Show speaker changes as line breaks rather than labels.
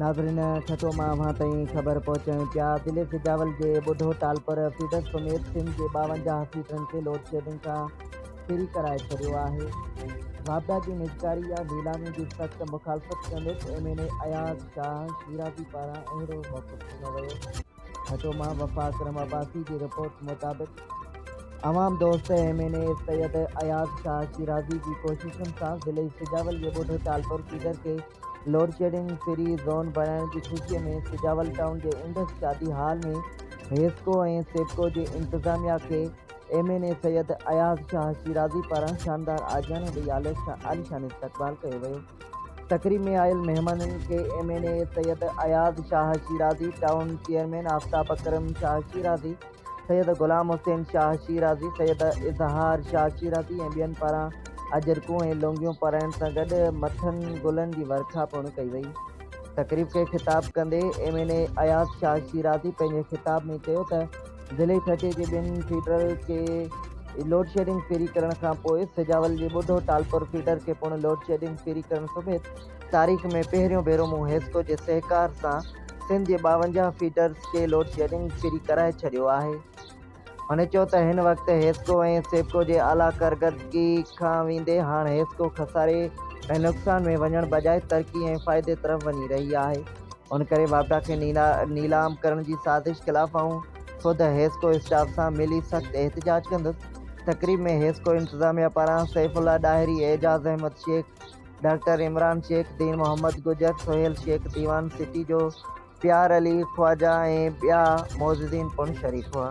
ناظرين ٺٽو مان اوهان تائين خبر پهچايون پيا ضلعي سجاول جي ٻڍو ٽالپر فيڊر سميت سنڌ جي ٻاونجاهه فيڊرن کي لوڊشيڊنگ کان فري ڪرائي ڇڏيو آهي واپڊا جي نجڪاري يا نيلامي جي سخت مخالفت ڪندڙ M N A Ayaz Shah Shirazi پاران اهڙو موقف ڏنو ويو ٺٽو مان وفا اڪرم عباسي جي رپورٽ مطابق عوام دوست M N A Syed Ayaz Shah Shirazi جي ڪوششن سان ضلعي سجاول جي ٻوڍو ٽالپور فيڊر کي لوڊشيڊنگ فري زون بڻائڻ جي خوشي ۾ سجاول ٽائون جي Indus Shadi hall ۾ HESCO ۽ SEPCO جي انتظاميا کي M N A Syed Ayaz Shah Shirazi پاران شاندار آجياڻي ڏئي عالشان استقبال ڪيو ويو. تقريب ۾ آيل مهمانن کي M N A Syed Ayaz Shah Shirazi, town chairman Aftab Akram Shah Shirazi, Syed Ghulam Hussain Shah Shirazi, Syed Izhar Shah Shirazi ۽ ٻين پاران اجرڪون ۽ لونگيون پرائڻ سان گڏ مٿن گلن جي ورکا پڻ ڪئي وئي. تقريب کي خطاب ڪندي M N A Ayaz Shah Shirazi پنهنجي خطاب ۾ چيو ته، ضلعي ٺٽي جي ٻن فيڊرل کي لوڊشيڊنگ فيري ڪرڻ کانپوء سجاول جي ٻڍو ٽالپر فيڊر کي پڻ لوڊشيڊنگ فيري ڪرڻ سميت تاريخ ۾ پهريون ڀيرو مون حيسڪو جي سهڪار سان سنڌ جي ٻاونجاهه فيڊرز کي لوڊشيڊنگ فيري ڪرائي ڇڏيو آهي. هن چيو ته هن وقت حيسڪو ۽ سيپڪو جي اعليٰ ڪرڪردگي کان ويندي هاڻ حيسڪو خساري ۽ نقصان ۾ وڃڻ بجاء ترقي ۽ فائدي طرف وڃي رهي آهي. ان ڪري واپڊا کي نيلام ڪرڻ جي سازش خلاف آئون خود حيسڪو اسٽاف سان ملي سخت احتجاج ڪندس. تقريب ۾ حيسڪو انتظاميا پاران سيف الله ڏاهري، اعجاز احمد شيخ، ڊاڪٽر عمران شيخ، دين محمد گجر، سهيل شيخ، ديوان سٽي جو پيار علي خواجا ۽ ٻيا معززين پڻ شريڪ هئا.